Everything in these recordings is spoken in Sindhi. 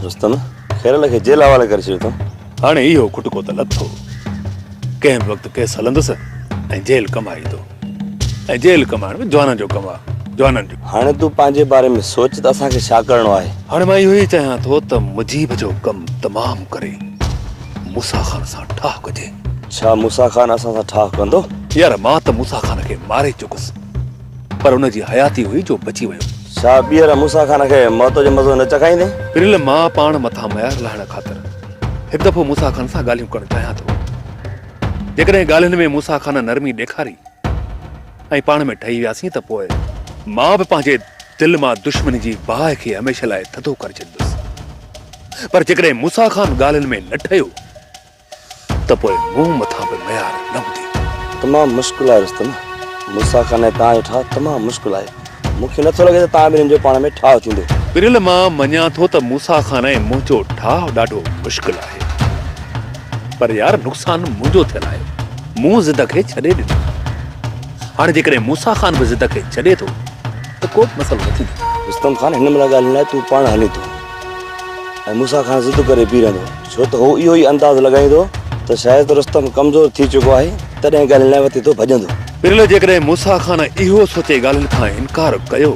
دوستن خيرل کي جيل حوالي ڪري ڇڏيو اٿم هاڻي اهو کٽڪو ته لٿو ڪنهن به وقت ڪيس هلندس ۽ جيل ڪمائيندو ۽ جيل ڪمائڻ به جوانن جو ڪم آهي جوانن جو هاڻي تون پنهنجي باري ۾ سوچ ته اسان کي ڇا ڪرڻو آهي هاڻي مان اهو ئي چاهيان ٿو ته مجيب جو ڪم تمام ڪري موسا خان سان ٺاهه ڪجي ڇا موسيٰ خان اسان سان ٺاهه ڪندو؟ يار مان ته موسيٰ خان کي ماري چڪس پر ان جي حياتي هئي جو بچي ويو. ڇا ٻيهر موسيٰ خان کي موت جو مزو نه چکائيندين؟ پريل مان پاڻ مٿان معيار لاهڻ خاطر هڪ دفعو موسيٰ خان سان ڳالهيون ڪرڻ چاهيان ٿو. جيڪڏهن ڳالهين ۾ موسيٰ خان نرمي ڏيکاري ۽ پاڻ ۾ ٺهي وياسين ته پوء مان به پنهنجي دل مان دشمني جي باهه کي هميشه لاء ٿڌو ڪري ڇڏيندس. پر جيڪڏهن موسيٰ خان ڳالهين ۾ نه ٺهيو. ته پوء مون مٿان به ميار نه هوندي. تمام مشڪل آهي رستم. ملسا خان ۽ توهان جو ٺاهه تمام مشڪل آهي. مون کي نه ٿو لڳي ته توهان ٻنهين جو پاڻ ۾ ٺاهه ٿيندو. پريل مان مڃان ٿو ته موسيٰ خان ۽ منهنجو ٺاهه ڏاڍو مشڪل آهي. پر يار نقصان منهنجو ٿيل آهي. مون ضد کي ڇڏي ڏنو. هاڻي جيڪڏهن موسيٰ خان به ضد کي ڇڏي ٿو ته ڪوبه مسئلو نه ٿيندو. رستم خان هن مهل ڳالهين لاء تون پاڻ هلين ٿو ۽ موسيٰ خان ضد ڪري بيهي رهندو. ڇو ته هو اهو ئي انداز لڳائيندو ته شايد رستم ڪمزور ٿي چڪو آهي، تڏهن ڳالهين لاء وتي ٿو ڀڄندو. پرلي جيڪڏهن موسيٰ خان اهو سوچي ڳالهين کان انڪار ڪيو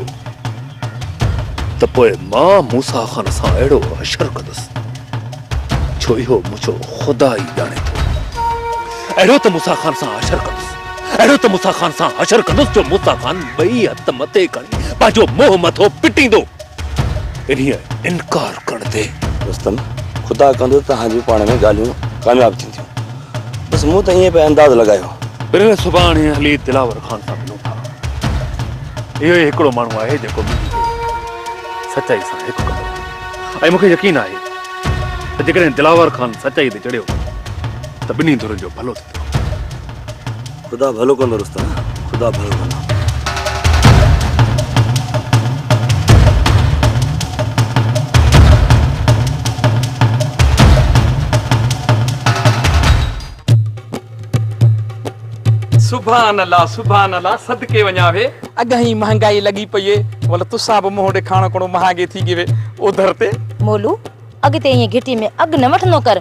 ته پوء مان موسيٰ خان سان اهڙو حشر ڪندس، ڇو اهو منهنجو خدا ئي ڄاڻي ٿو. اهڙو ته موسيٰ خان سان حشر ڪندس، اهڙو ته موسيٰ خان سان حشر ڪندس جو موسيٰ خان ٻئي هٿ مٿي کڻي پنهنجو منهن مٿو پٽيندو. انهيء انڪار ڪرڻ تي رستم، خدا ڪندو ته توهان جون پاڻ ۾ ڳالهيون ڪامياب ٿينديون. بس مون ته ائين پئي انداز لڳايو. پرين سڀاڻي هلي دلاور خان سان ملون ٿا. اهو ئي هڪڙو ماڻهو آهي جيڪو منهنجي دل ۾ سچائي سان هڪ ڪندو ۽ مون کي يقين آهي ته جيڪڏهن دلاور خان سچائي تي چڙهيو ته ٻنهي ڌرين جو ڀلو ٿيندو. خدا ڀلو ڪندو رستم خدا ڀلو ڪندو سبحان الله سبحان الله صدقي وڃا وي اگهي مهانگائي لڳي پئي ول تسا به مهو ڏکاڻو ڪڻو مهانگي ٿي گي وي اوڌر تي مولو اڳتي ائين گهٽي ۾ اڳ نه وٺندو ڪر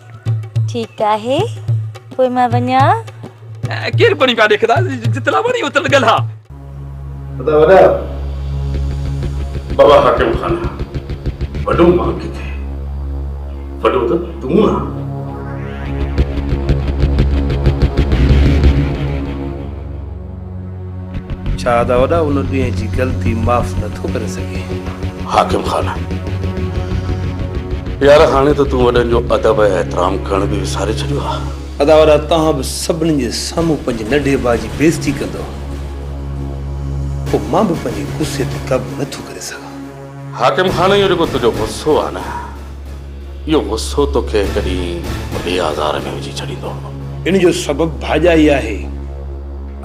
ٺيڪ آهي پوء مان وڃان. ڪير پڻي ڪا ڏيکدا جتلا وڻي اتل ڳلها. ادا وڏا بابا حاڪم خان آ وڏو مان ڪٿي وڏو ته تون آ. ڇا ادا وڏا ان ڏينهن جي غلطي معاف نه ٿو ڪري سگهين. حاڪم خان يار هاڻي ته تون وڏن جو ادب ۽ احترام ڪرڻ به وساري ڇڏيو آهي. ادا وڏا توهان به سڀني جي سامهون پنهنجي ننڍي ڀاء جي بيعزتي ڪندؤ پوء مان به پنهنجي غصي تي قابو نه ٿو ڪري سگهان. حاڪم خان اهو جيڪو تنهنجو غصو آهي نه اهو غصو توکي هڪ ڏينهن وڏي آزار ۾ وجهي ڇڏيندو. ان جو سبب ڀاڄائي آهي.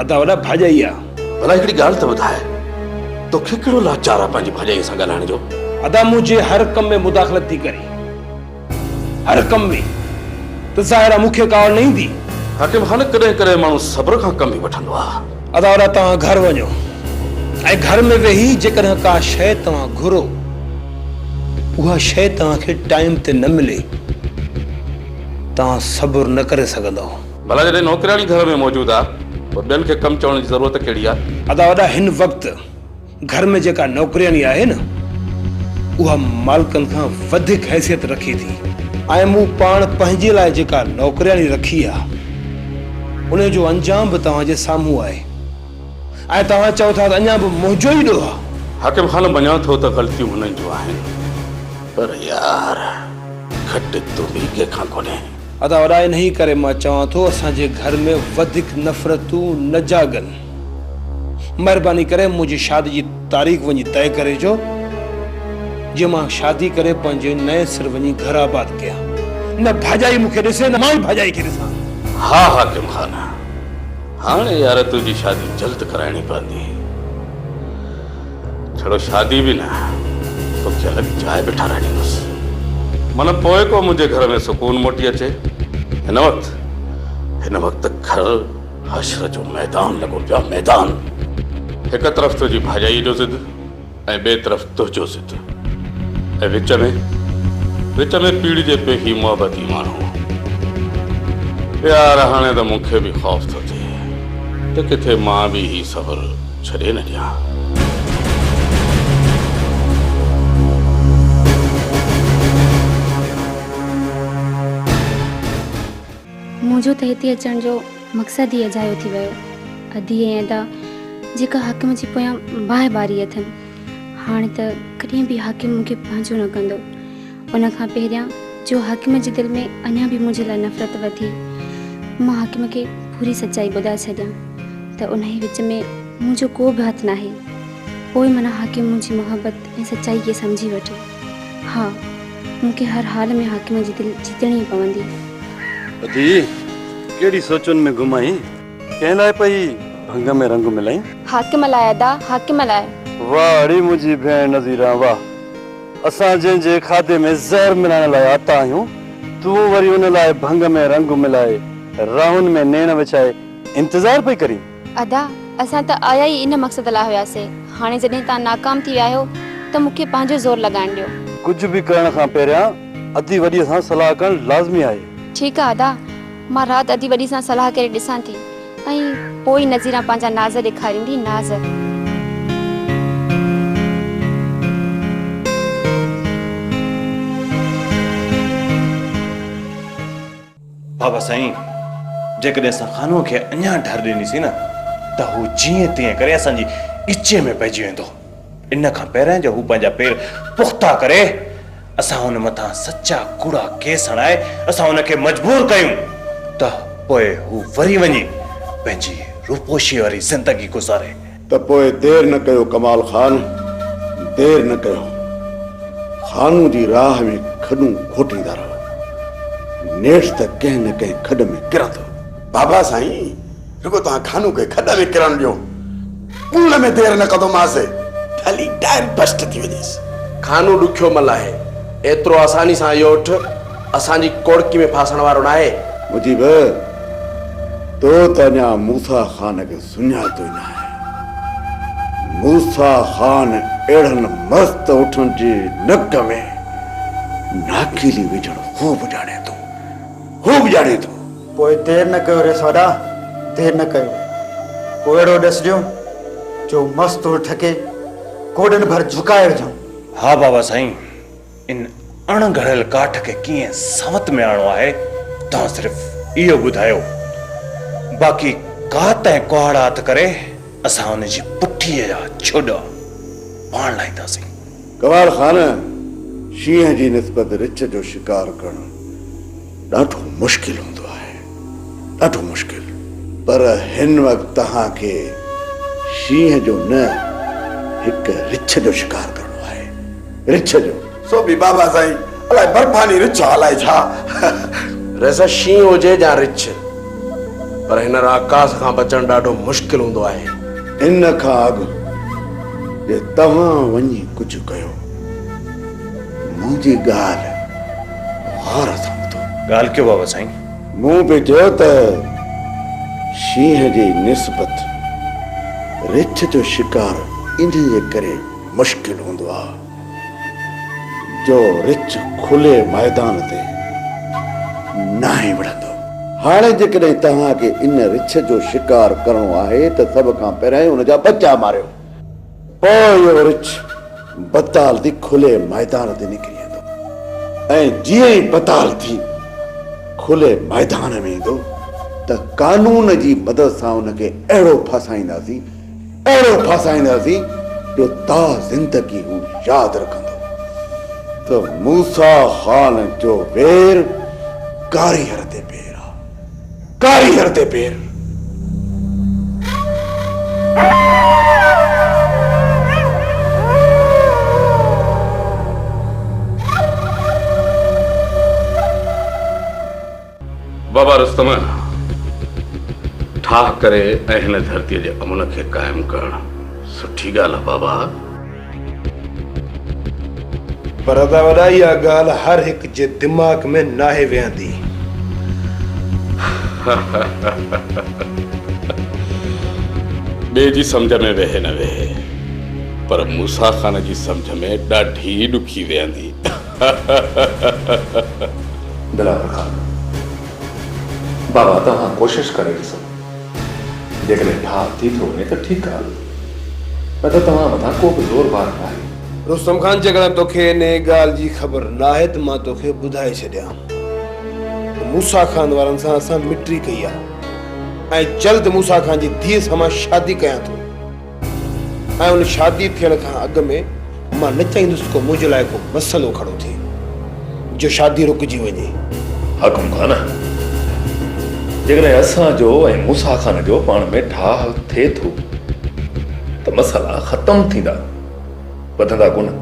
ادا وڏا ڀاڄائي آ. ڀلا هڪڙي ڳالهه ته ٻڌاء توکي ڪهڙو لاچار آ پنهنجي ڀاڄائي سان ڳالهائڻ جو. ادا منهنجي هر ڪم ۾ مداخلت ٿي ڪري. هر ڪم ۾ ته ظاهر آ مون کي ڪاوڙ نه ايندي. حاڪم خان ڪڏهن ڪڏهن ماڻهو صبر کان ڪم به وٺندو آ. ادا ادا توهان گهر وڃو ۽ گهر ۾ ويهي جيڪڏهن ڪا شيء توهان گهرو اها شيء توهان کي ٽائيم تي نه ملي توهان صبر نه ڪري سگهندؤ. ڀلا جڏهن نوڪرياڻي گهر ۾ موجود آ ته ٻين کي ڪم چوڻ جي ضرورت ڪهڙي آ. ادا ادا هن وقت. گهر ۾ جيڪا نوڪرياڻي آهي نه اها مالڪن کان وڌيڪ حيثيت رکي ٿي ۽ مون پاڻ پنهنجي لاء جيڪا نوڪرياڻي رکي آهي انهي جو انجام به توهان جي سامهون آهي ۽ توهان چئو ٿا ته اڃا به منهنجو ئي ڏوهه آهي. حاڪم خان مڃان ٿو ته غلطيون هنن جون آهن پر يار گهٽ تون به ڪنهن کان ڪونهين. ادا وڏا انهي ڪري مان چوان ٿو اسان جي گهر ۾ وڌيڪ نفرتون نه جاڳن. مهرباني ڪري منهنجي شادي جي تاريخ وڃي طئي ڪري جو جي مان شادي ڪري پنهنجي نئين سر وڃي گهر آباد ڪيان. نه ڀاڄائي مون کي ڏسي نه مان ئي ڀاڄائي کي ڏسان. ها حاڪم خان هاڻي يار تنهنجي شادي جلد ڪرائڻي پوندي. ڇڙو شادي به نه توکي الڳ جاء به ٺهرائيندس. من پوء ڪو منهنجي گهر ۾ سڪون موٽي اچي. هن وقت هن وقت گهر. حشر جو ميدان لڳو پيو آهي ميدان. هڪ طرف تنهنجي ڀاڄائيء جو ضد ۽ ٻئي طرف تنهنجو ضد ۽ وچ ۾ وچ ۾ پيڙهجي پئي هي محبتي ماڻهو. يار هاڻي ته مون کي به خوف ٿو ٿئي ته ڪٿي مان به هي سفر ڇڏي نه ڏيان. منهنجو ته هتي اچڻ جو مقصد ئي اجايو ٿي ويو. ادي ۽ ادا جيڪا حاڪم جي پويان باهه ٻاري اٿن، هاڻ ته ڪڏهن به حاڪم مون کي پنهنجو نه ڪندو. ان کان پهريان جو حاڪم جي دل ۾ اڃا به منهنجي لاء نفرت وڌي، مان حاڪم کي پوري سچائي ٻڌائي ڇڏيان ته انهيء وچ ۾ منهنجو ڪو به هٿ ناهي. پوء منا حاڪم منهنجي محبت، ۽ سچائي کي سمجهي وٺي. ها، مون کي هر حال ۾ حاڪم جي دل جيتڻي ئي پوندي. ادي، ڪهڙي سوچن ۾ گم آهين؟ ڪنهن لاء پئي ڀنگ ۾ رنگ ملائين؟ حاڪم لاء ادا، حاڪم لاء. واهه اڙي منهنجي ڀيڻ نظيران واهه. اسان جنهن جي کاڌي ۾ زهر ملائڻ لاء آتا آهيون، تون وري ان لاء ڀنگ ۾ رنگ ملائي، راهن ۾ نيڻ وڇائي انتظار پئي ڪرين؟ ادا اسان ته آيا ئي ان مقصد لاء هياسي هاڻي جڏهن تان ناڪام ٿي ويا آهيو ته مون کي پنهنجو زور لڳائڻ ڏيو. ڪجهه به ڪرڻ کان پهريان ادي وڏي سان صلاح ڪرڻ لازمي آهي. ٺيڪ آ ادا مان رات ادي وڏي سان صلاح ڪري ڏسان ٿي ۽ پوء ئي نظيران پنهنجا ناز ڏيکاريندي ناز. بابا سائين جيڪڏهن اسان خانوء کي اڃا ڍر ڏنيسين نه ته هو جيئن تيئن ڪري اسان جي ڳچيء ۾ پئجي ويندو. ان کان پهرئين جو هو پنهنجا پير پختا ڪري، اسان هن مٿان سچا ڪوڙا ڪيس هڻائي اسان هن کي مجبور ڪيون ته پوء هو وري وڃي پنهنجي روپوشيء واري زندگي گذاري. ته پوء دير نه ڪيو ڪمال خان دير نه ڪيو خانو جي راهه ۾ کڏون کوٽيندا رهو نيٺ ته ڪنهن نه ڪنهن کڏ ۾ ڪرندو. بابا سائين رڳو توهان خانو کي کڏ ۾ ڪرڻ ڏيو ٻوڙڻ ۾ دير نه ڪندو ماس ڀلي ٽائر بسٽ ٿي وڃيس. خانو ڏکيو مل آهي ايترو آساني سان اهو اٺ اسان جي ڪوڙڪي ۾ ڦاسڻ وارو ناهي. مجيب تو ته اڃا موسيٰ خان کي سڃاتو نه آهي. موسيٰ خان اهڙن مست اٺن جي نڪ ۾ ناکيلي وجهڻ هو به ڄاڻي ٿو. هو به ڄاڻي ٿو. پوء دير نه ڪيو ريس وڏا، دير نه ڪيو. ڪو اهڙو ڏس ڏيو جو مست اٺ کي گوڏن ڀر جهڪائي وجهون. ها بابا سائين. ان اڻ گهڙيل ڪاٺ کي ڪيئن سنوت ۾ آڻڻو آهي، توهان صرف اهو ٻڌايو. باقي ڪات ۽ ڪهاڙا هٿ ڪري، اسان ان جي پٺيء جا ڇوڏا پاڻ لاهينداسين. ڪهاڙ خان، شينهن جي نسبت رڇ جو شڪار ڪرڻ ڏاڍو مشڪل هوندو آهي، ڏاڍو مشڪل. پر هن وقت توهان کي شينهن جو نه، هڪ رڇ جو شڪار ڪرڻو آهي. رڇ جو. سو به بابا سائين الاء برفاني رڇ الاء ڇا. ريسا شينهن هجي يا رڇ پر هن راڪاس کان بچڻ ڏاڍو مشڪل هوندو آهي. ان کان اڳ جي توهان وڃي ڪجهه ڪيو منهنجي ڳالهه غور سان ٻڌو. ڳالهه ڪيو بابا سائين. مون به چيو ته شينهن جي نسبت رڇ جو شڪار ان جي ڪري مشڪل هوندو آ جو رڇ کلي ميدان تي ناهي وڙهندو. هاڻي جيڪڏهن توهان کي ان رڇ جو شڪار ڪرڻو آهي ته سڀ کان پهريائين ان جا ٻچا ماريو. پوء اهو رڇ بتال ٿي کلي ميدان تي نڪري ايندو ۽ جيئن ئي بتال ٿي کلي ميدان ۾ ايندو ته قانون جي مدد سان ان کي اهڙو ڦاسائينداسين اهڙو ڦاسائينداسين جو تا زندگي هو ياد رکندو ته موسيٰ خان جو وير ڪاري هر تي پير آ، ڪاري هر تي پير. بابا رستم ٺاهه ڪري ۽ هن ڌرتي جي امن کي قائم ڪرڻ سٺي ڳالهه آهي بابا. پر ادا وڏا اها ڳالهه هر هڪ جي دماغ ۾ ناهي ويهندي. ٻئي جي سمجهه ۾ ويهي نه ويهي پر موسيٰ خان جي سمجهه ۾ ڏاڍي ڏکي ويهندي. دلاور خان، بابا توهان ڪوشش ڪري ڏسو، جيڪڏهن ٺاهه ٿي ٿو وڃي ته ٺيڪ آ، نه ته توهان مٿان ڪو به زور بار ناهي. رستم خان، جيڪڏهن توکي انهيء ڳالهه جي خبر ناهي ته مان توکي ٻڌائي ڇڏيان ته موسيٰ خان وارن سان اسان مٽري ڪئي آ ۽ جلد موسيٰ خان جي ڌيء سان مان شادي ڪيان ٿو. ۽ ان شادي ٿيڻ کان اڳ ۾ مان نه چاهيندس ته ڪو منهنجي لاء ڪو مسئلو کڙو ٿئي جو شادي رڪجي وڃي. حاڪم خان، جيڪڏهن اسان جو ۽ موسيٰ خان جو پاڻ ۾ ٺاهه ٿئي ٿو ته مسئلا ختم ٿيندا، وڌندا ڪونه.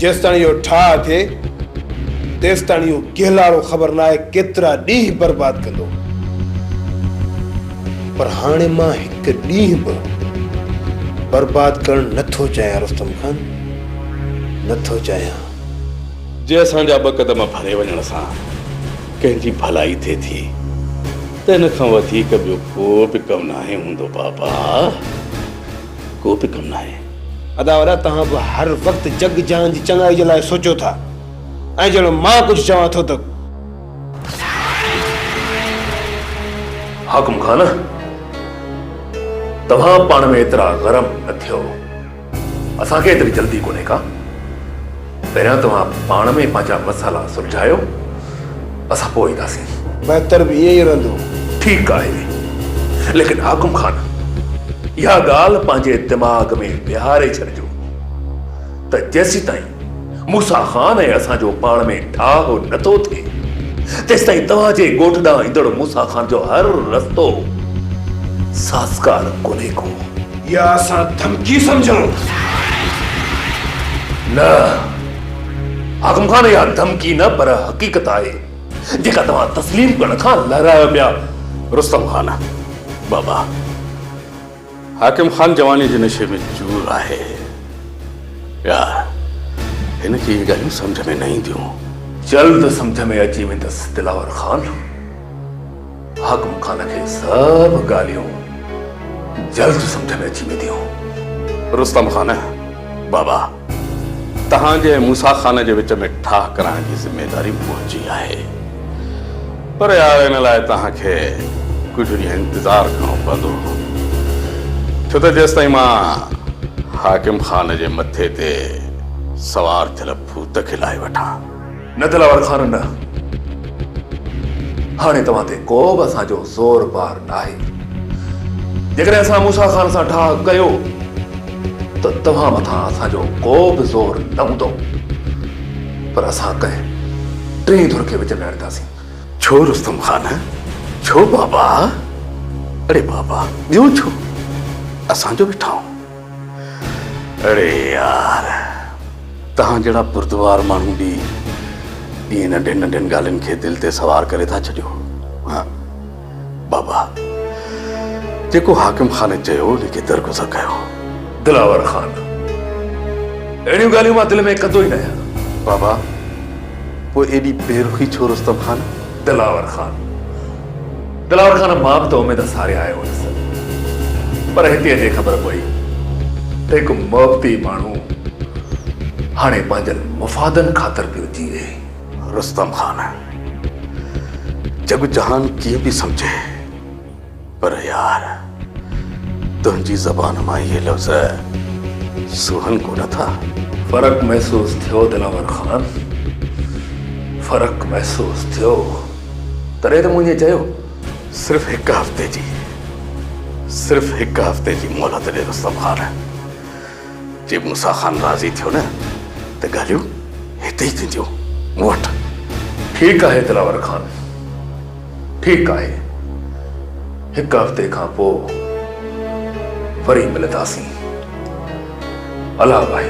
جيستاڻي اهو ٺاهه ٿئي، تيستاڻي اهو گهلاڙو خبر ناهي ڪيترا ڏينهن برباد ڪندو. پر هاڻي مان هڪ ڏينهن به برباد ڪرڻ نه ٿو چاهيان رستم خان، نه ٿو چاهيان. جي اسان جا ٻه قدم پري وڃڻ سان ڪنهن جي ڀلائي ٿئي ٿي ته ان کان وڌيڪ ٻيو ڪو به ڪم ناهي هوندو بابا، ڪو به ڪم ناهي. ادا وڏا توهان به هر وقت جڳ جهان جي چڱائي جي لاء سوچو ٿا ۽ جهڙو مان ڪجهه چوان ٿو ته حاڪم خان توهان پاڻ ۾ ايترا گرم نه ٿيو اسان کي ايتري جلدي ڪونهي ڪا. پهريان توهان پاڻ ۾ پنهنجا مسئلا سلجهايو، اسان پوء اينداسين. بهتر به ائين ئي رهندو. ٺيڪ آهي. ليڪن حاڪم خان، اها ڳالهه پنهنجي دماغ ۾ بيهاري ڇڏجو ته جيسيتائين موسيٰ خان ۽ اسان جو پاڻ ۾ ٺاهه نه ٿو ٿئي، تيستائين توهان جي ڳوٺ ڏانهن ايندڙ موسيٰ خان جو هر رستو سازگار ڪونهي ڪو. اها اسان ڌمڪي سمجهون؟ نه اعظم خان اها ڌمڪي نه پر حقيقت آهي جيڪا توهان تسليم ڪرڻ کان لهرايو پيا. رستم خان، بابا حاڪم خان جواني جي نشي ۾ چور آهي يا هن کي اهي ڳالهيون سمجهه ۾ نه اينديون. جلد سمجهه ۾ اچي ويندس دلاور خان. حاڪم خان کي سڀ ڳالهيون جلد سمجهه ۾ اچي وينديون. رستم خان، بابا، توهان جي ۽ موسيٰ خان جي وچ ۾ ٺاهه ڪرائڻ جي ذميواري منهنجي آهي. پر يار ان لاء توهان کي ڪجهه ڏينهن انتظار ڪرڻو پوندو. ڇو ته جيستائين مان حاڪم خان جي مٿي تي سوار ٿيل ڀوت کي لاهي وٺان. نه دلاور خان نه، هاڻي توهان تي ڪو به اسان جو زور بار ناهي. جيڪڏهن اسان موسيٰ خان سان ٺاهه ڪيو ته توهان مٿان اسان جو ڪو به زور نه هوندو، پر اسان ڪنهن ٽئين ڌر کي وچ ۾ آڻينداسين. ڇو رستم خان، ڇو بابا؟ اڙي بابا، ٻيو ڇو؟ اسان جو به ٺاهه. اڙي يار توهان جهڙا بردوار ماڻهو به ائين ننڍين ننڍين ڳالهين کي دل تي سوار ڪري ٿا ڇڏيو ها بابا جيڪو حاڪم خان چيو ان کي درگذر ڪيو دلاور خان اهڙيون ڳالهيون مان دل ۾ ڪندو ئي نه آهيان بابا پوء ايڏي بيرخي ڇو رستم خان دلاور خان دلاور خان مان به ته اميد ساري آيو هيس پر هتي اچي خبر پئي ته هڪ محبتي ماڻهو هاڻي پنهنجن مفادن خاطر پيو جيئي. رستم خان جڳ جهان ڪيئن به سمجهي پر يار تنهنجي زبان مان اهي لفظ سونهن ڪونه ٿا. فرق محسوس ٿيو دلاور خان فرق محسوس ٿيو. تڏهن ته مون ائين چيو. صرف هڪ هفتي جي، صرف هڪ هفتي جي مهلت ڏي رستم خان. جي موسيٰ خان راضي ٿيو نه ته ڳالهيون هتي ئي ٿينديون، مون وٽ. ٺيڪ آهي دلاور خان، ٺيڪ آهي. هڪ هفتي کان پوء وري ملنداسين. الله ڀائي.